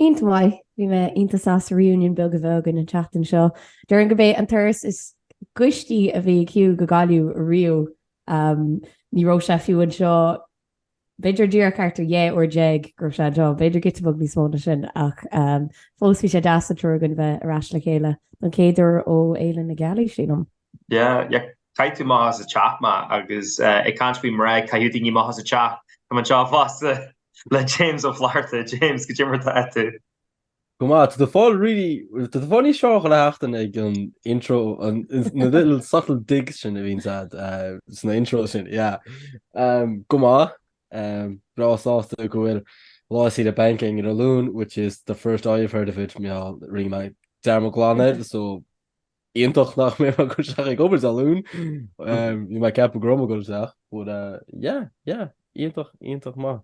Iontach maith. Bhí mé iontach sásta reunion beag a bheith againn an tseachtain seo. Déarfainn gurb é an turas is gaiste a bhí ag Hugh go Gaillimh riamh. Ní raibh sé fiú anseo, b'fhéidir díreach thart ar dhá uair déag go raibh sé anseo, b'fhéidir giota beag níos mó ná sin, ach fós bhí sé deas an triúr againn bheith ar ais le chéile don chéad uair ó Fhéile na Gealaí, sílim. Yeah, chaith tú amach as an teach mé, agus ag caint faoi bheith ag caitheamh daoine amach as an teach. Tá mé anseo fosta le James Ó Flatharta. James, caidé mar atá tú. Go maith, tá tú ag fáil really, tá tú ag fáil níos fearr chuile sheachtain ag an intro, an na little subtle digs sin a bhíonns agat sna intros sin, yeah. Go maith, breá sásta go bhfuil lá saoire bainc againn an Luan, which is the first I have heard of it, bhuel rinne mé dearmad glan air, so, iontach nach mbeidh mé ag goil isteach ag obair ar an Luan. Bhí mé ag ceapadh go raibh mé ag goil isteach, but yeah, yeah, iontach, iontach maith.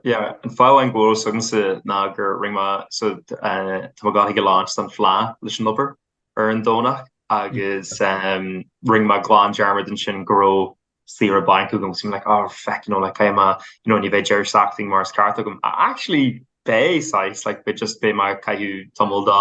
Yeah, an fáth amháin go bhfuil fhios agamsa ná gur rinne mé, so tá mé gáifigh galánta don Fhleá leis an obair ar an Domhnach agus rinne mé glan dearmad ansin go raibh saoire bainc agam agus bhí mé like, oh feck, you know, like caithfidh mé, you know, ní bheidh deireadh seachtaine mar is ceart agam. Actually, beidh, saghas, like beidh just, beidh mé ag caitheamh tamall dá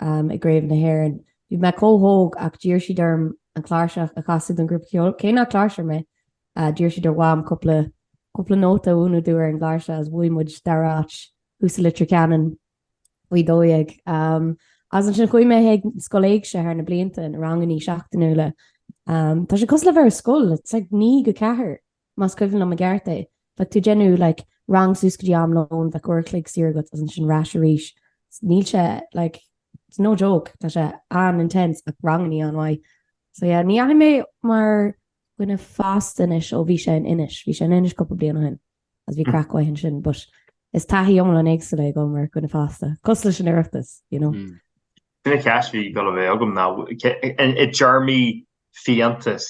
um, i gCraobh na hÉireann. Bhí mé chomh hóg ach d'iarr siad orm an chláirseach a chasadh don ghrúpa ceoil. Cé nach cláirseoir mé, uh, d'iarr siad ar Mham cúpla, cúpla nóta a mhúineadh dúinn ar an gcláirseach agus bhuaigh muid dara áit thuas i Leitir Ceanainn faoi dó dhéag. Um, agus ansin chuaigh mé ag Scoil Éigse thar na blianta na rangannaí seachtainiúla. Um, tá sé cosúil le bheith ar scoil, it's like naoi go ceathair. Más cuimhin liom i gceart é, bheadh tú ag déanamh like rang suas go dtí am lón, bheadh uair a chloig saor agat agus ansin ar ais arís. Níl sé like, it's no joke, tá sé an-intense ach rangannaí an-mhaith. So yeah, ní dheachaigh mé mar dhuine fásta anois ó bhí sé in Inis, bhí sé in Inis cúpla bliain ó shin agus bhí mm. craic mhaith ansin, but is taithí iomlán éagsúil é goil mar dhuine fásta, cosúil leis an Oireachtas, you know. Mm. An cheist a bhí ag goil a bheith agam ná i dtéarmaí fiántas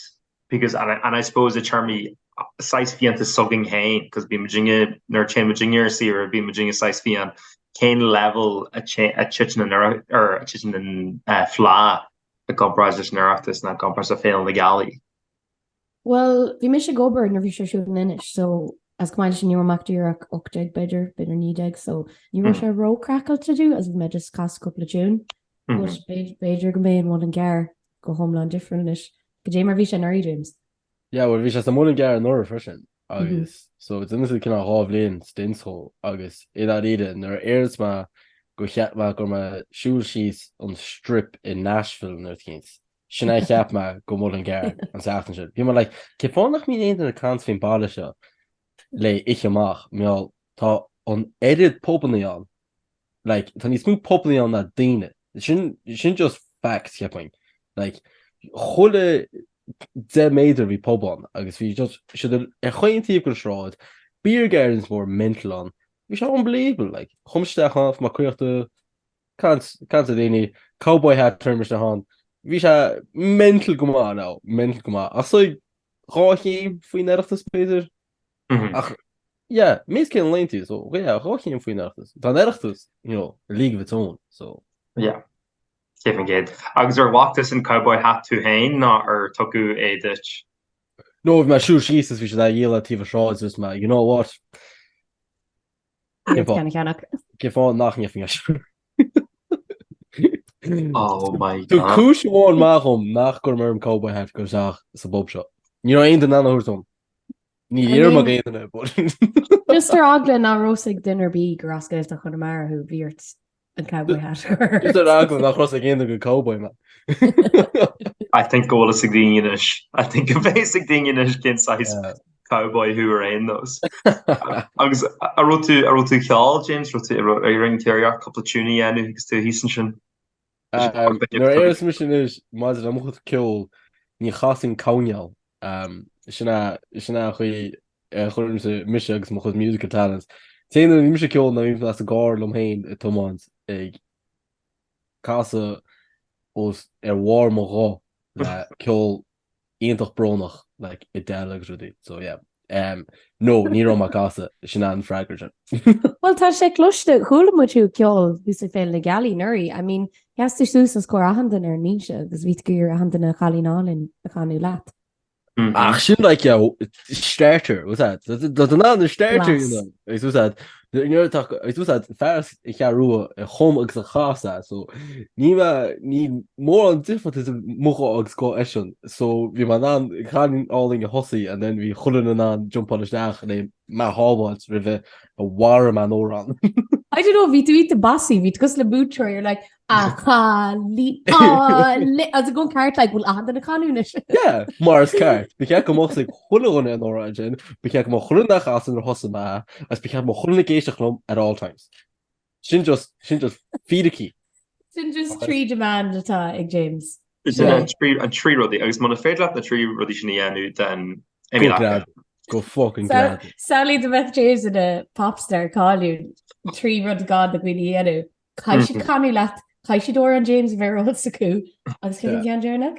because and and I suppose i dtéarmaí saghas fiántas s'againn féin because bíonn muidinne nuair a théann muidinne ar saoire bíonn muidinne saghas fiáin cén leibhéal a té a titeann an oiread ar a dtiteann an eh, fleá i gcomparáid leis an Oireachtas ná i gcomparáid le Féile na Gealaí. Bhuel, bhí mise ag obair nuair bhí sé siúd in Inis, so as go maidir sin ní raibh mé ach díreach 18 b'fhéidir, b'fhéidir 19, so ní raibh sé róchraiceáilte dom agus bhí mé just ag casadh cúpla tune, but b'fhéidir b'fhéidir go mbeidh an Muileann gCearr go hiomlán difriúil anois go dtí mar bhí sé anuraidh, James. Yeah, bhuel, bhí sé sa Muileann gCearr anuraidh freisin, agus so it's innocent cineál dhá bhliain stint dhó, agus i ndáiríre, nuair a déarfas mé gur cheap mé go raibh mé siúl síos an Strip i Nashville an uair chéanna, sin a cheap mé go Muileann gCearr an tseachtain sin. Bhí mé like, cén fáth nach mbíonn aon duine ag caint faoin baile seo le oíche amach, mar gheall, tá an oiread pubannaí ann Like, tá níos mó pubannaí ann ná daoine. Sin, sin just facts, cheapfainn. Like, chuile 10 méadar bhí pub ann, agus bhí just, siad ar, ar chaon taobh den sráid, beer gardens mór mental ann. Bhí sé unbelievable, like. Chuaigh muid isteach ann, fáil caochta, caint, caint le daoine, cowboy hat orm isteach ann. Bhí sé mental go maith, now, mental go maith. Ach so, dhá chéim faoin Oireachtas, b'fhéidir? Ach, yeah, meas cén laon tú, so, yeah, dhá chéim faoin Oireachtas. Tá an Oireachtas, you know, a league of its own, so. Yeah. Céad faoin gcéad. Agus ar bhfaca tusa an cowboy hat tú féin nó ar tugadh é duit? No, bhí mé ag siúl síos is bhí siad á dhíol ar taobh an sráid agus mé, you know what? Cén fáth nach n-imeoinn leis. Tabhair cúis amháin maith dhom nach gcuirfinn orm cowboy hat goil isteach sa bpub seo. Ní raibh aon duine in ann a thabhairt dom. Níor fhiafraigh mé d'aon duine, but. Just ar eagla nach raibh a fhios ag duine ar bith gur as Gaeltacht Chonamara thú, bhí ort. An cowboy hat. Is ar eagla nach raibh a fhios ag aon duine gur cowboy mé. I think go bhfuil a fhios ag daoine anois. I think go mbeidh a fhios ag daoine anois cén saghas cowboy thú ar aon nós. Agus an raibh tú, an raibh tú ag ceol, James, raibh tú ar ar an téarghearc cúpla tune a dhéanamh agus tú thíos ansin. Nuair a déarfas mise anois maidir le mo chuid ceoil, ní chasainn cabhneáil Sin é an chaoi a chuirimse mise agus mo chuid musical talents. Déanaimse ceol nuair a bhím sa gcarr liom féin ag tiomáint ag casadh os ar bharr mo ghuth le ceol iontach brónach like Adele agus rudaí. So yeah. Um, no, ní raibh mé ag casadh, sin é an freagra sin. Bhuel, tá sé cloiste, chuala muid thú ag ceol thuas ag Féile na Gealaí anuraidh. I mean, Sheas tú suas os comhair achan duine ar ndlínse agus bhí tú ag iarraidh achan duine An Cailín Álainn a chanadh leat. Ach sin like yeah, starter, what's that? That's an an starter, you know. Agus what's that? Nuair tá agus what's that? Fear as an gCeathrú Rua a chum agus a chas é so ní ma- ní mór an difríocht i mo ghuthsa agus guth eisean. So bhí mé in ann An Cailín Álainn a thosú and then bhí chuile dhuine in ann jumpáil isteach and then Mé a shábháilt roimh a mharaím an amhrán. I don't know, bhí tú iontach bossy, bhí tú cosúil le múinteoir, you're like, a cha lí, a lí, cas é go ceart, like, bhfuil achan duine ag canadh anois. Yeah, mar is ceart, ba cheart go mbeadh sé ag chuile dhuine an amhrán sin, ba cheart go mbeadh chuile dhuine ag casadh nuair a thosaigh mé, agus ba cheart go mbeadh chuile dhuine ag éisteacht liom at all times. Sin just, sin just fíricí. Sin just trí demand atá ag James. Is sin an trí, an trí rudaí, agus muna féidir leat na trí rudaí sin a dhéanamh, then Go Emil Acker. grad. Go fucking Sa- grad. Samhlaigh dá mbeadh James ina popstar cáiliúil, trí rud gá do dhaoine a dhéanamh. Caithfidh siad canadh leat, caithfidh siad amhrán James a bheith ar eolas acu, agus cé Yeah. an gceann deireanach?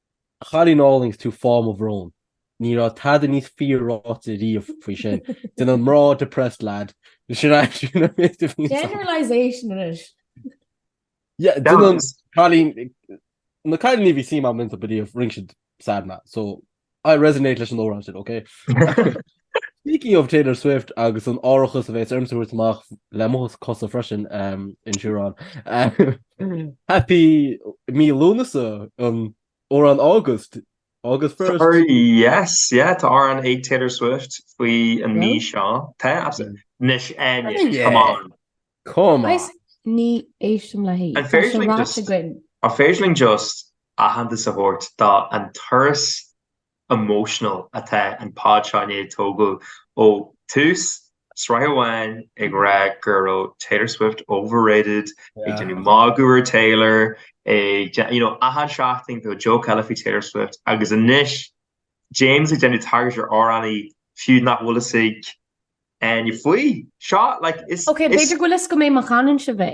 Chailín álainn is tú fáth mo bhróin. Ní raibh tada níos fíor ráite riamh faoi sin, déanann mná depressed lad. Sin aimsir na míosa a bhí ann. Generalization anois. Yeah, déanann cailín, na cailíní a bhí suim agam iontu ariamh, rinne siad sad mé, so I resonate leis an amhrán sin, ok? Speaking of Taylor Swift agus an árachas a bhéas ormsa thabhairt amach le mo chosa freisin um, insureáil. Um, happy mí Lúnasa an amhrán August. August first. Sorry, yes, yeah, tá amhrán ag Taylor Swift faoi an mí seo. Tá, absolutely. Nis aine, Oh, yeah. come on. Come on. Agus ní éistim le hí. An féidir linn just- Tá sé ráite againn. An féidir linn just aitheantas a thabhairt don turas emotional atá an pod seo i ndiaidh tógáil ó tús, sraith a haon ag rá go raibh Taylor Swift overrated, ag déanamh magadh ar Taylor, ag déanamh, you know, achan seachtain go raibh joke eile faoi Taylor Swift, agus anois James ag déanamh tagairt ar amhránaí fiú nach bhfuil fhios ag éinne faoi. Seo, like, is, is. Ok, b'fhéidir go bhfuil fhios agam é má chanann sibh é.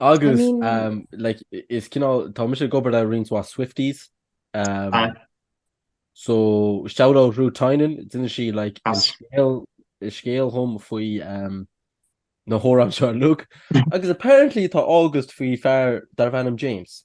Agus is cineál tá mise ag obair le roinnt Swifties so shout out Ruth Tynan d'inis sí like scéal dom faoi na hamhráin seo like agus apparently tá August faoi fear darb ainm James.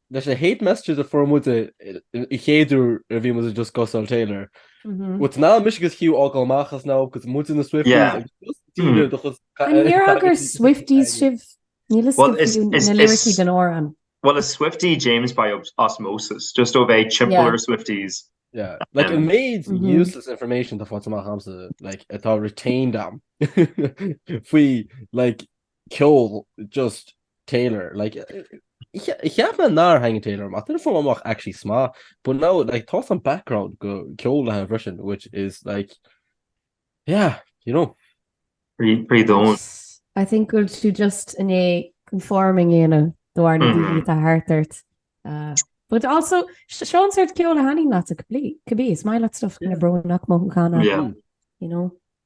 leis na hate messages a fuair muid an chéad uair a bhí muid ag discussáil Taylor, but ná mise agus Hugh ag dul amach as ná agus muid ina Swifties agus just daoine just ag caint air. Ní fhéadfadh gur Swifties sibh, níl fhios agam fiú na liricí den amhrán. Well is Swiftie James by osmosis, just ó bheith ag timpeall ar Swifties. Yeah, like an méid useless information atá faighte amach a'msa, like atá retained a'm faoi like, ceol just Taylor like cheap me nár hangin Taylor amach didn't fall amach actually sma but now like thoughts on background go ceol le Russian which is like yeah you know pre don't I think will she just in a conforming you know dwar na mm-hmm. dí a hartart uh, but also Sean sort ceol a hanin lá a complete could be smile at stuff in a bro nach mo gan you know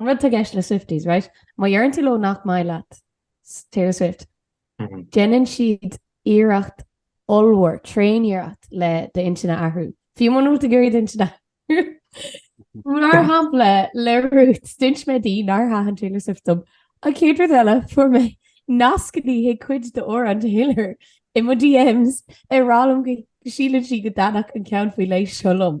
rud atá i gceist le Swifties, right? Má deireann tú leo nach maith leat Taylor Swift, déanann siad iarracht ollmhór, tréaniarracht le d'intinn a athrú. Fiú muna bhfuil tú ag iarraidh d'intinn a athrú, mar shampla, le Ruth, d'inis mé di nár thaitin Taylor Swift dom. An chéad rud eile, fuair mé nascanna chuig cuid d'amhráin Taylor i mo DMs ag rá liom go síleann sí go dtaitneodh an ceann faoi leith seo liom.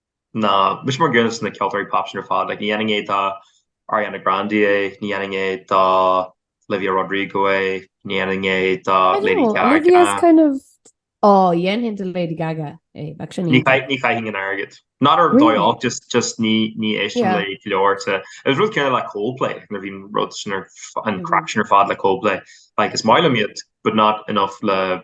ná mise mar dhuine de na ceoltóirí pop sin ar fad. Like, ní dhéanfainn é do Ariana Grande é, ní dhéanfainn é do Olivia Rodrigo é, ní dhéanfainn é do I don't Lady know, Gaga. Olivia's kind of... Ó, dhéanfainn do Lady Gaga é, bheadh sin Ní iontach. chai- ní chaithfinn an t-airgead. Not ar Really? dóigh olc, just, just ní, ní éistim Yeah. léi go leor. te. It was rud céanna le Coldplay, nuair bhí an rud sin ar, f- an Mhm. craic sin ar fad le Coldplay. Like, is maith liom iad, but not enough le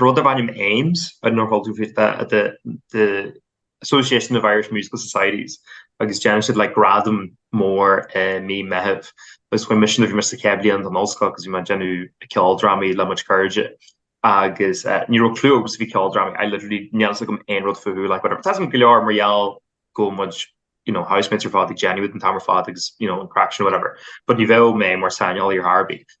Rud darb ainm Ames, I don't know an bhfuil tú faoi, tá the the Association of Irish Musical Societies agus déanann siad like gradam mór i mí Meitheamh agus chuaigh mise nó bhí mise sa chéad bhliain den ollscoil agus bhí mé ag déanamh ceoldrámaí le mo chuid cairde agus ní raibh clú agamsa faoi cheoldrámaí I literally ní raibh a fhios agam aon rud fúthu like whatever. Tá a fhios agam go leor mar gheall go bhfuil mo chuid you know housemates ar fad ag déanamh iad an t-am ar fad agus you know an craic sin whatever but ní bheadh mé mar saineolaí ar chor ar bith.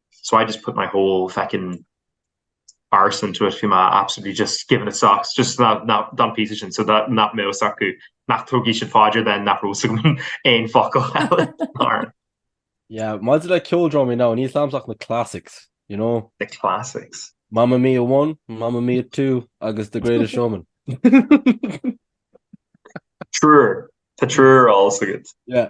so I just put my whole feckin arse into it, bhí mé absolutely just giving it socks, just ná ná don píosa sin so that nach mbeadh fhios acu nach dtabharfadh siad faoi deara then nach raibh fhios agam aon focal eile mar Yeah, maidir le ceoldrámaí ná, níl a fhios agamsa ach na classics, you know? the classics. Mamma Mia 1, Mamma Mia 2 agus The Greatest Showman. Triúr, tá triúr ar fheabhas agat. Yeah,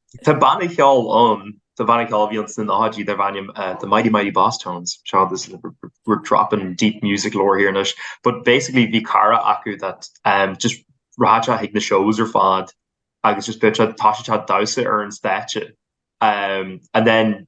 Tá banna ceoil ann, tá banna ceoil a bhí ann sna nóchaidí darb ainm The Mighty Mighty Bosstones, seo this is like we're dropping deep music lore here anois, but basically bhí cara acu that um just rachadh sé chuig na shows ar fad agus just bheadh sé tá sé ag damhsa ar an stáitse um and then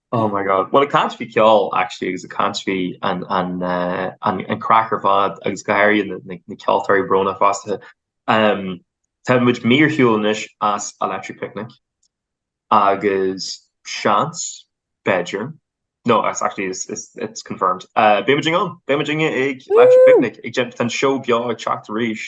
Oh my God well ag caint faoi ceol actually agus ag caint faoi an an uh an an craic ar fad agus go háirithe na na na ceoltóirí beo fosta um tá muid mí ar shiúl anois as Electric Picnic agus seans b'fhéidir no it's actually it's it's it's confirmed uh beidh muidne beidh muidne ag Electric Picnic ag déanamh tá an seó beo ag teacht arís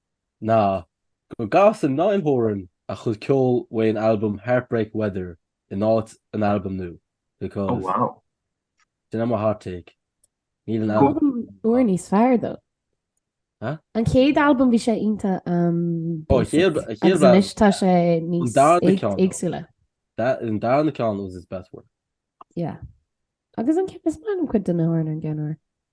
ná go gcasann Niall Horan a chuid ceoil ón albam Heartbreak Weather in áit an albam nua, because, sin é mo hot take, níl an albam Albam úr níos fearr dó. Hah? An chéad albam bhí sé ionta um, Ó, basic. chéad- a chéad Agus anois tá sé níos darna ag- ceann. éagsúla. That, an darna ceann was his best work. Yeah. Agus an cip is man cuid den Horan an gceanúir.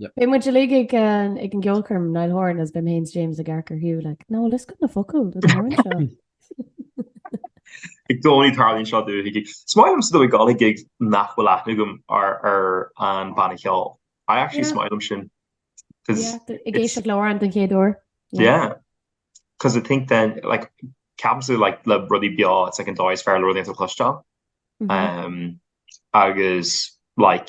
Beidh muid uilig ag an gceolchoirm, Niall Horan is beidh mé féin is James ag amharc ar Hugh like, no, níl a fhios agam na focail do na hamhráin seo. Ag dóigh tarlaíonn seo dúinn chuige. Is maith liomsa dul chuig gig nach bhfuil aithne agam ar an banna ceoil. I actually is maith liom sin. Yeah, ag éisteacht le Horan den chéad uair. Yeah. Cos I think then, like, ceapaimse like, le rudí beo, it's like an dóigh is fearr le rud éigint a chloisteáil. agus like,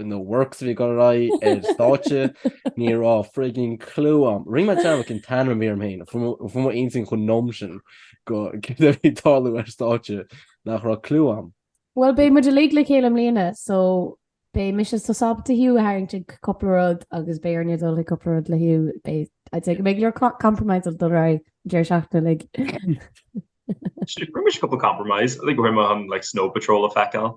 in the works a bhí ag goil ar aghaidh ar stáitse, ní raibh frigging clue a'm. Rinne mé like ah in san mhír féin, fuair mé an-suim ionam sin go céard a bhí ag tarlú ar stáitse nach raibh clue a'm. Bhuel, beidh muid uilig le chéile i mbliana, so beidh mise so sábháilte thú a tharraingt ag cúpla rud agus beidh Áine ag dul chuig cúpla rud le thú, beidh, I'd say, go mbeidh go leor compromise ag dul ar aghaidh an deireadh seachtaine uilig. Rinne mise cúpla compromise, I think rinne mé an like snow patrol a feiceáil.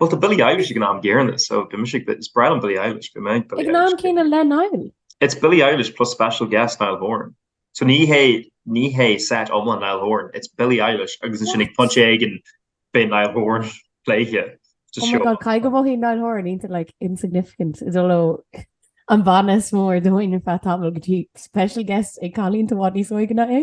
Bhuel tá Billie Eilish ag an am gcéanna so bhí mise ag is breá liom Billie Eilish bhí mé ag Billie Eilish. Ag an am céanna le Niall? It's Billie Eilish plus special guest Niall Horan. So ní hé ní hé set iomlán Niall Horan, it's Billie Eilish agus ansin ag pointe éigin beidh Niall Horan pléite. Oh my god cai go bhfaighidh Niall Horan into like insignificant as ón bhanna is mór domhan ar feadh tamaill go dtí special guest ag cailín i bhfad níos óige ná é.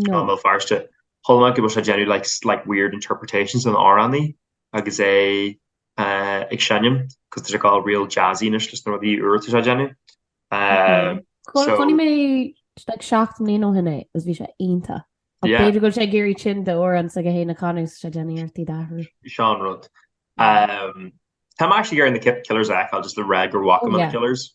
Tá Béal Feirste thall ná go bhfuil sé ag déanamh like slight weird interpretations dá amhránaí agus é ag seinm cos tá sé go real jazzy anois leis na rudaí úra atá sé ag déanamh. Chonaic mé like seacht mbliana ó shin é agus bhí sé iontach. Ach Yeah. b'fhéidir go bhfuil sé ag éirí tinn d'amhráin s'aige féin a chanadh agus é ag déanamh iarracht iad a athrú. Sin an rud. Um, Tá mé actually ag iarraidh The Killers a fheiceáil just le rá go bhfaca Oh, mé yeah. The Killers.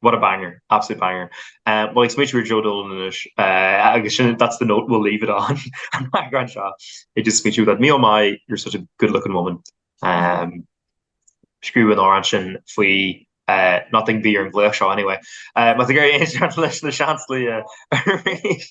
What a banger, absolute banger. Bhuel ag smaointiú ar Joe Dolan anois agus sin that's the note we'll leave it on an eagrán seo ag just smaointiú faoi me oh my you're such a good looking woman. Scríobh an amhrán sin faoi Naughton a bhí ar an nglaoch seo anyway. Más ag éirí aon seans leis na seans luí arís.